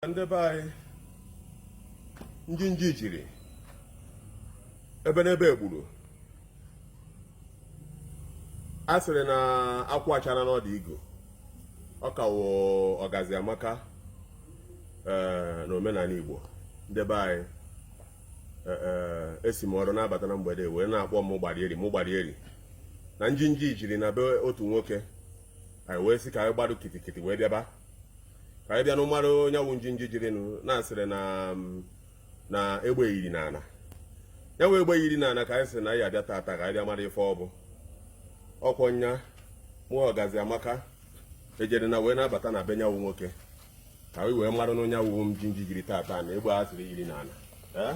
ndị be anyị njinji ejiri ebenebe egburu a sịrị na akwụ achaana n'ọdụ igu ọ ka wụ ọgazi amaka eh, na omenana igbo ndị be anyị eh, eh, esi m ọrụ na-abata na mgbede wee na-akpọ m gbarieri m gbarieri na njinji jiri na be otu nwoke anyị wee sị ka anyị gbado kitikiti wee bịaba ka anyị bịanụ mara nya wụ njinji jirinụ na a sịrị na mm, na egbe yiri na ana ya wụ egbe yiri na ana ka anyị sị na anyị abịa tata ka anyị bịa mara ife ọ bụ ọkwọ nya mụ ọgazi amaka ejere na wee na-abata na be nya wụ nwoke ka anyị wee maranụ nya wụ njinji jiri tata na egbe a sịrị yiri na ana ee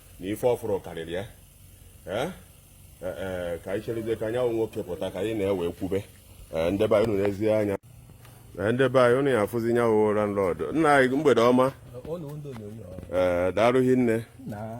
na ife ọ fụrụ karịrị ya ee e, ka anyị cherizie ka nya wụ nwoke pụta ka anyị na ya wee kwube e, ndebe anyị unu nezie anya e, ndebe anyị unu ya afụzi nya wụ landlord nna anyị mgbede ọma ee daalụ hinne na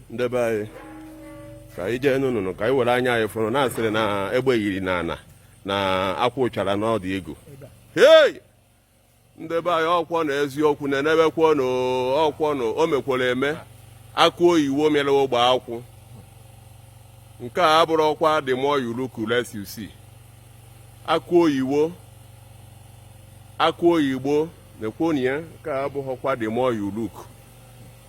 ndebe anyị ka anyị jeenụnụ ka anyị were anya anyị fụrụ na a sịrị na egbe yiri na ana na akwụ chara n'ọdụ igu hei ndebe anyị ọkwọnụ eziokwu nenebekwọnụ ọkwọ na o mekwara eme akụ oyiwo mịrị ogbe akwụ nke a abụrọkwa the more you look less you see akụ oyiwo akụ oyigbo nekwọ nya nke a abụhọkwa the more you look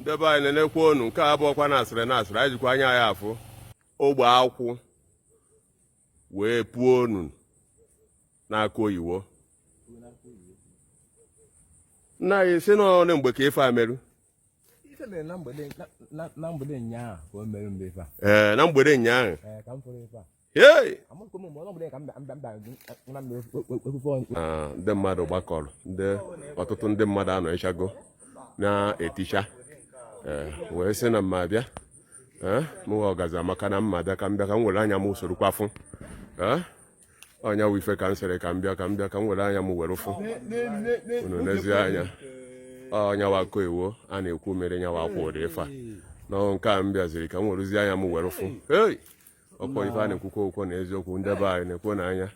ndebe anyị nenekwọnụ nke a abụhọkwa na a sịrị na a sịrị anyị jikwa anya anyị afụ ogbe akwụ wee puonụ na akụ oyiwo nna anyị sị na ọ na mgbe ka ife a merụ ife mere na mgbede na mgbede ụnyaahụ ka o mere mgbe ife a ee na mgbede ụnyaahụ ee ka m fụrụ ife a ndị mmadụ gbakọrọ ndị ọtụtụ ndị mmadụ anọchago na-eticha eh, wee sị na m ya-abịa eh, mụwa ọgazi amaka na m ya-abịa ka m bịa ka m were anya m sorokwa fụ eh, ọ nya wụ ife ka m sịrị ka m bịa ka m bịa ka m were anya m were fụ unu nezie anya nya wụ akụ oyiwo a na-ekwu mịrị nya wụ akwụ ụdị ife a na nke a m bịaziri ka m werezie anya m were fụ ọkwa ife a na-ekwukwa ọkwa na eziokwu ndị be anyị nekwanụ anya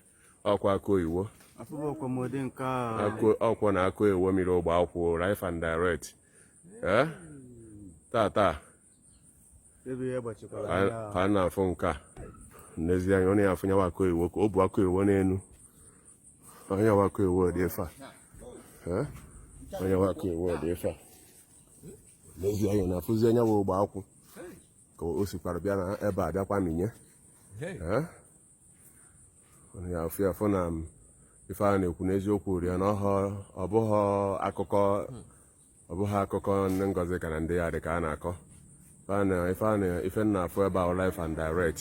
ọkwa akụ oyiwo ọkwa na akụ oyiwo mịrị ogbe akwụ life and direct eh? tata ka a na-afụ nke a nezie anya ọ na-afụ nya wụ akụ oyiwo ka o bu akụ oyiwo n'elu nya wụ akụ oyiwo dị efe a eh? nya wụ akụ oyiwo dị efe a nezie anya na-afụzi nya wụ ogbe akwụ ka o sikwara bịa na ebe a bịakwa n'inye ya ofu ya fụ na ife a na-ekwu n'eziokwu rị ya na ọ bụghị akụkọ ọ bụghị akụkọ ndị ngozika na ndị ya dị ka a na-akọ ife na ife a na-afụ ebe a life and direct